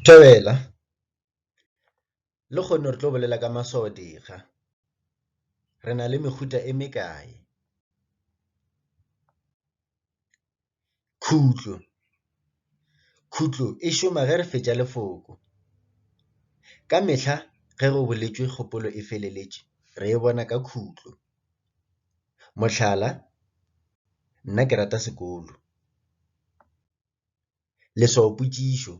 Thobela, Lekgone re tlo bolela ka maswaodikga. Re na le mehuta e mekae? Khutlo, Khutlo e šoma ge re fetša lefoko. Ka mehla ge go boletšwe kgopolo e feleletše re e bona ka khutlo. Mohlala, Nna ke rata sekolo. Leswaopotšišo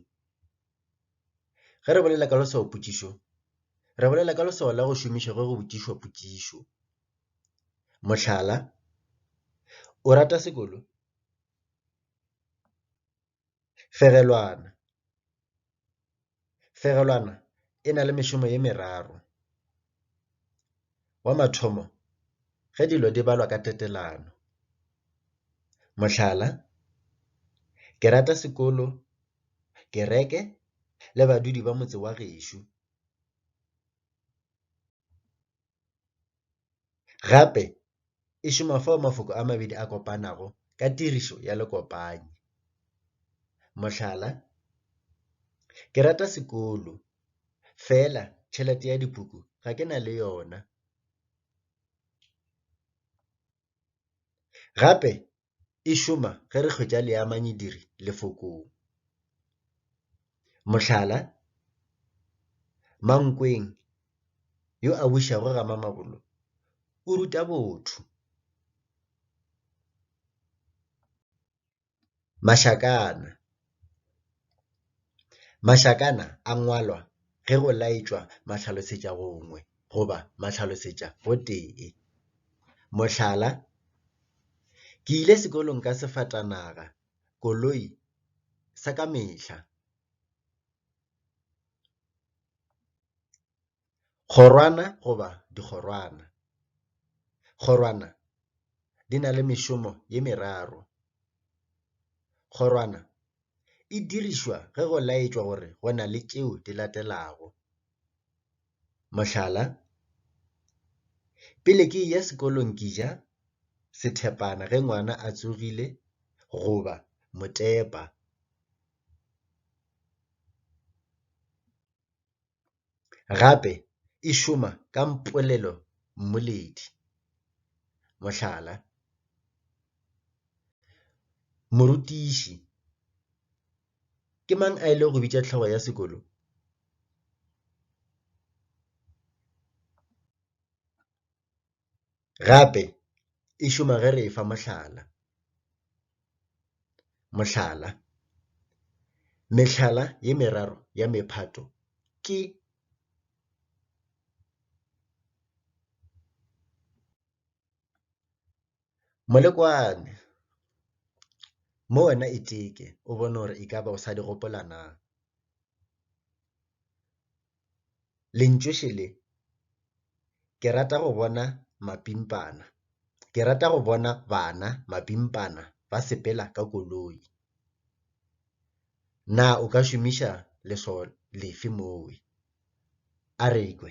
Ge re bolela ka leswaopotšišo, re bolela ka leswao la go šomišwa ge go botšišwa potšišo. Mohlala, O rata sekolo? Fegelwana. Fegelwana e na le mešomo ye meraro. Wa mathomo, ge dilo di balwa ka tetelano. Mohlala, ke rata sekolo, kereke le badudi ba motse wa gešo. Gape e šoma fao mafoko a mabedi a kopanago ka tirišo ya lekopanyi. Mohlala, Ke rata sekolo, fela tšhelete ya dipuku ga ke na le yona. Gape e šoma ge re hwetša leamanyidiri Lefokong. Mohlala, Mankweng yo a bušago ga Mamabolo o ruta botho. Mašakana Mašakana a ngwalwa ge go laetšwa mahlalosetšagongwe goba mahlalosetšagotee. Mohlala, Ke ile sekolong ka sefatanaga, koloi, sa ka mehla. Kgorwana goba dikgorwana. Kgorwana di na le mešomo ye meraro. Kgorwana e dirišwa ge go laetšwa gore go na le tšeo di latelago. Mohlala, Pele ke eya sekolong ke ja sethepana ge ngwana a tsogile goba motepa. gape e šoma ka polelommoledi. Mohlala, Morutiši, Ke mang a ilego go bitša hlogo ya sekolo? Gape e šoma ge re e fa mohlala. Mohlala, mehlala ye meraro ya mephato ke. Molekwane, Mo wena iteke o bone gore e ka ba o sa di gopola na? Lentšoše le, ke rata go bona mapimpana. Ke rata go bona bana, mapimpana, ba sepela ka koloi. Na o ka šomiša leswao lefe moo? Arekwe.